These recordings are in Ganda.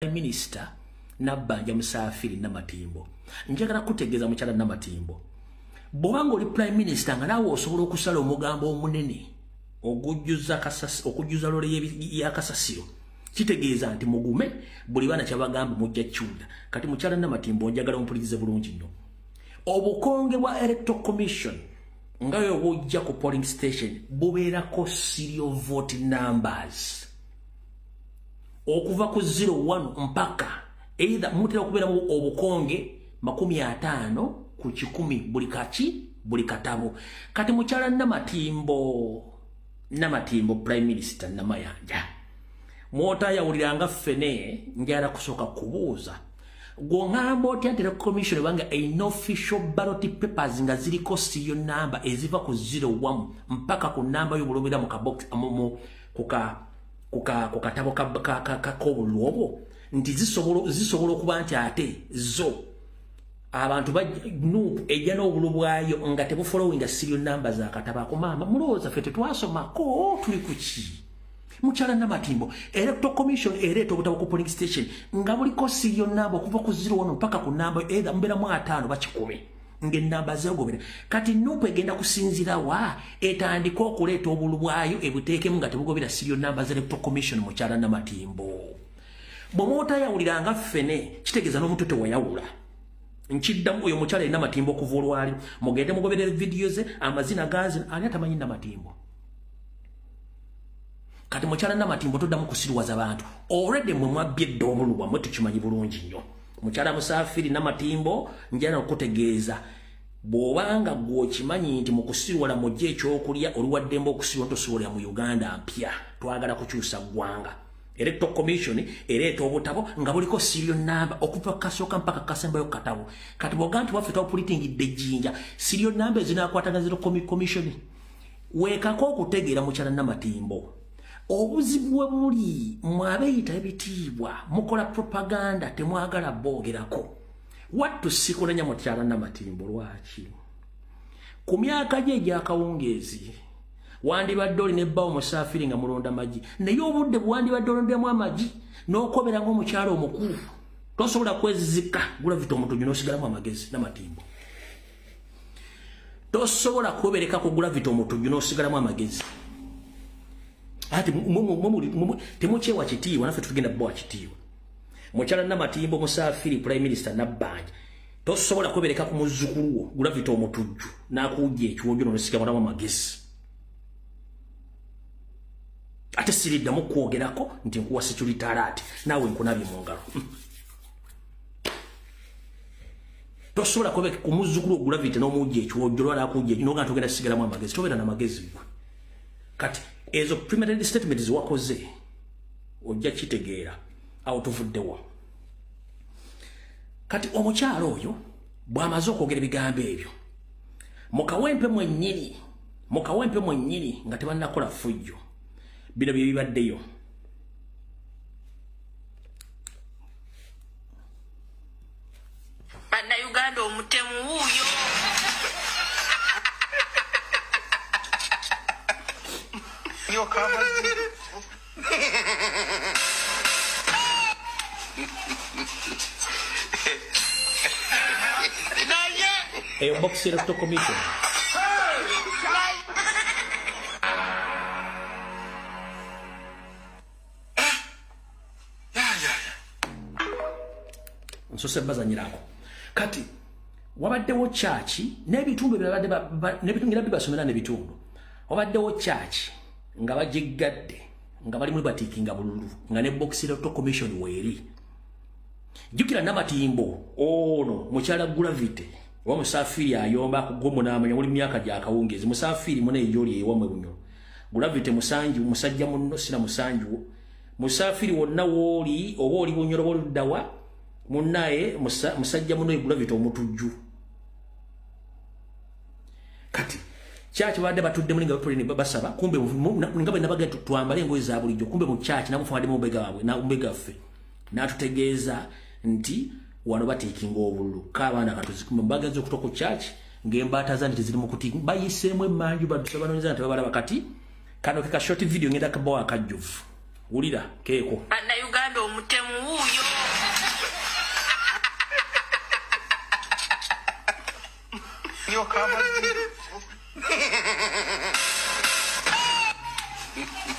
prime minister nabbanja musaafiri namatimbo njagala kutegeeza mukyala namatimbo bwoba ngaoli prime minister nga naawe osobola okusala omugambo omunene okujjuza lole yakasasiro kitegeeza nti mugume buli baana kyabagamba mujja kiwulira kati mukyala namatimbo njagala ompulirize bulungi nnyo obukonge bwa electoral commission nga webujja ku polling station bubeerako serial vote numbers okuva ku zero one mpaka either mutera okubeeramu obukonge makumi ataano ku kikumi buli kaki buli katabo kati mukyala namatimbo namatimbo prime minister namayanja mwotayawuliranga ffene njala kusooka kubuuza gwongamba otya nti recommission ebanga an official ballot papers nga ziriko siyo namba eziva ku zero wamu mpaka ku namba y'obulobera mu kabox amumu ku katabo k'obululu obwo nti zisobola okuba nti ate zo abantu nup ejja n'obulu bwayo nga tebufolowinga sirio namba za katabo ako maama mulowooza fe tetwasomako tuli ku ki mukyala namatimbo electoral commission ereeta obutabo ku polling station nga buliko sirio namba okuva ku ziro wano mpaka ku namba edha muberamu ataano bakikumi ngenamba zagobera kati nupu egenda kusinzira wa etandika okuleeta obulu bwayo ebuteekemu nga tebugobera sirio namba za electoral commission mukyala namatimbo bwemwotayawulira nga ffene kitegeeza n'omuntu tewayawula nkiddamu oyo mukyala erina matimbo okuva olwali mugende mugoberera vidiyo ze amazina gazi ani atamanyi namatimbo kati mukyala namatimbo toddamu kusiriwaza bantu already mwe mwabbye edda obulu bwamwe tukimanyi bulungi nnyo mukyala musaafiri namatimbo njana okutegeeza bw'obanga gwe okimanyi nti mu kusiiwala mujja ekyokulya oliwaddemba okusiiwa ntosobolera mu uganda mpya twagala kukyusa ggwanga electoral commission ereeta obutabo nga buliko sirio namba okuva kasooka mpaka kasembayo katabo kati bwoga nti waffe twapulitingidde ejjinja sirio namba ezinakwatagazira commission weekako okutegeera mukyala namatimbo obuzibu we buli mwabeyita ebitiibwa mukola propaganda temwagala boogerako wattu sikulanya mukyala namatimbo lwaki ku myaka gye egyakawungeezi wandibadde olina ebbawo musaafiri nga mulonda magi naye obudde bwewandibadde olondamu amagi n'okobera ngaomukyalo omukulu tosobola kwezizika gulavita omutuju n'osigalamu amagezi namatimbo tosobola kwebereka ku gravity omutujju n'osigalamu amagezi ati temukyewa kitiibwa naffe tutugenda bubawa kitiibwa mukyala namatimbo musafiri prime minister nabbanja tosobola kwebereka ku muzzukulu wo gravity omutujju n'akuwujja ekiwonjo n'onosigalamu amagezi ate siriddamu kwogerako nti nkuwa security alert naawe nkunabye mu ngalo hmm. tosobola kuba kumuzukulu ogravity n'omujja ekiwojjolwa n'akujja ekyo n'ogaa togenda sigalamu amagezi tobeera na magezi gwe kati ezo premeditated statement ziwakoze ojja kitegeera awo tuvuddewa kati omukyalo oyo bw'amaze okwogera ebigambo ebyo mu kawempe mwennyini mu kawempe mwennyini nga tebannakola fujjo bino bye bibaddeyo bannayuganda omutemu wuuyo eyo bokisi electoral commission nsose bazanyirako kati wabaddewo kyaki n'ebitundu byebaddebingira bibasomera n'ebitundu wabaddewo kyaki nga bagiggadde nga balimu batiikinga bululu nga ne boxirato commission weeri jjukira namatimbo ono mukyala gravity oba musafiri ayomba akugwomu n'amanya muli myaka gyakawungeezi musafiri muna eyoli ewamwe bunyolo gravity musanju musajja munno sina musanjuwo musafiri wonna wooli oba oli bunyoloba oluddawa munnaye musajja muno egravity omutujju kati kyaki babadde batudde muli nga bapuleni basaba kumbe nga bwe nabaga twambale engoye za bulijjo kumbe mu kyaki namufumadde mu mbega wabwe mbega ffe n'atutegeeza nti wano bateekinga obululu kaabaana katuzikume bagaza okutoka ku kyaki ng'embaata zani teziri mu kuti bayiseemu emmanju badusa banoonyeza nti babalaba kati kano ke ka short video ngenda kabawo akajjuvu wulira keeko bannayuganda omutemu wuuyo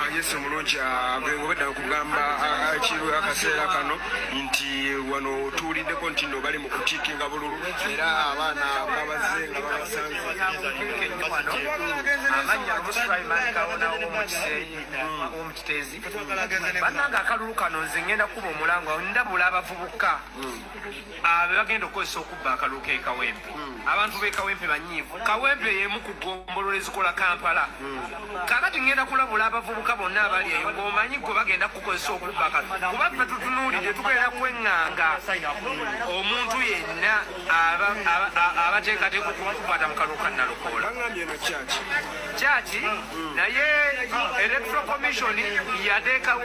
Ah, yesu omulungi ah, gwengobedda okugamba ah, ekiru akaseera kano nti wano otuwuliddeko nti no bali mu kutiikinga bululu era abaana babaze nga babasanzebanange akalulu kano nze ngenda kuba omulangwa ndabula abavubuka hmm. abe bagenda okukozesa okubba akalulu ke kawempe hmm. abantu be kawempe banyiivu kawempe yemu ku gombolola ezikola kampala hmm. kakati ngenda kulabula abavubuka bonna abali eyo ngaomanyi gwe bagenda kukukozesa okubba akalulu kuba ffe tutunuulidde tugenda kweŋŋanga omuntu yenna abateekateeka okumukwata mu kalulu ka nalukoola kyaki hmm. naye electro commission yateekawo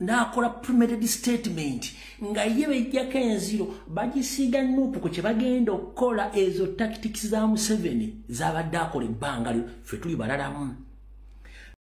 n'akola premeded statement nga ye bejjako enziro bagisiiga nuupu ku kye bagenda okukola ezo tactics za museveni zabadde akola ebbanga lyo ffe tuli balalamu